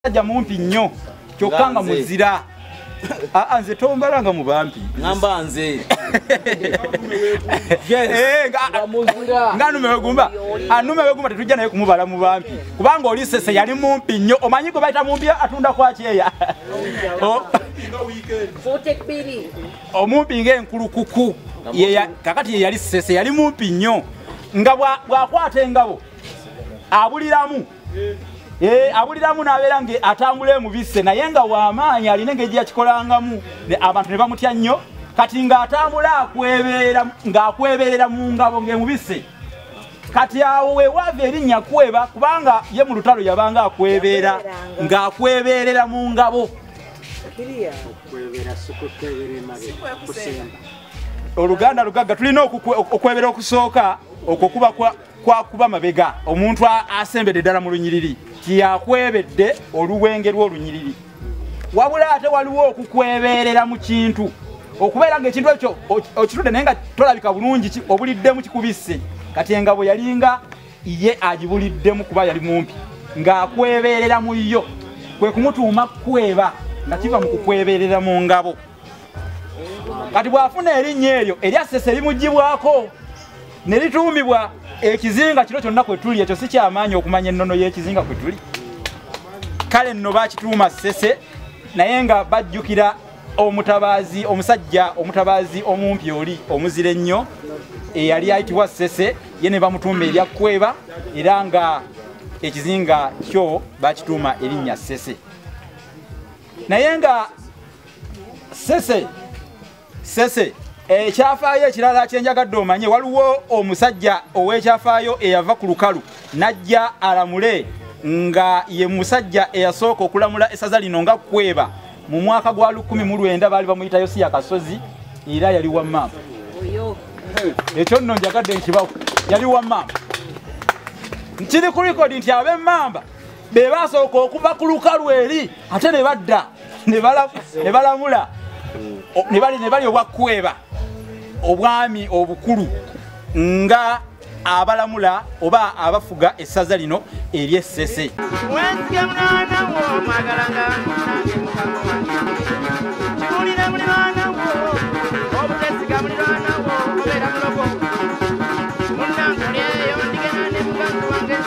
musajja mumpi nnyo kyokka nga muzira aa ah, ah, nze tombala nga mubampi namba nze eh, nga numewegumba anumewegumba ah, tetujja naye kumubala mubampi kubanga oli sese yali mumpi nnyo omanyi gwe bayita mumpi atunda kwakyeya oh. omumpi ngaenkulukuku kakati yeyali sese yali mumpi nnyo nga bwakwata engabo abuliramu Eh, abuliramu nabeera nga atambula emubise naye nga wamaanyi alina engeri gyeyakikolangamu abantu ne bamutya nnyo kati ngaatambula akwebeera ngaakweberera mu ngabo ngaemubise kati awo wewaava erinnya kweba kubanga ye mu lutalo yabanga akwebeera ngaakweberera mu ngabo oluganda lugagga tulina okwebera okusooka okwo kuba kwakuba mabega omuntu asembedde ddala mu lunyiriri tiyakwebedde oluwenge lw'olunyiriri wabula ate waliwo okukwebeerera mu kintu okubeera ngaekintu ekyo okitudde naye nga tolabika bulungi obuliddemu kikubisse kati engabo yalinga ye agibuliddemu kuba yali mumpi ng'akwebeerera mu yo kwe kumutuuma kukweba nga kiva mu kukwebeerera mu ngabo kati bw'afuna erinnya eryo eryassesa erimugibwako ne lituumibwa ekizinga kino kyonna kwe tuli ekyo si kyamaanyi okumanya ennono y'ekizinga kwe tuli kale nno bakituuma ssese naye nga bajjukira omutabaazi omusajja omutabaazi omumpi oli omuzira ennyo eyali ayitibwa ssese ye ne bamutuuma erya kweba era nga ekizinga kyo bakituuma erinnya ssese naye nga ssese sese ekyafaayo ekirala kyenjagadde omanye waliwo omusajja ow'ekyafaayo eyava ku lukalu n'ajja alamule nga ye musajja eyasooka okulamula esaza lino nga kweba mu mwaka gwa lukumi mu lwenda baali bamuyita yosiya kasozi era yali wa maama ekyo nno njagadde nkibawo yali wa maama nkiri ku rekodi nti ab'emmamba be basooka okuva ku lukalu eri ate ne badda ne balamula ne bali obwakukweba obwami obukulu nga abalamula oba abafuga essaza lino eryessese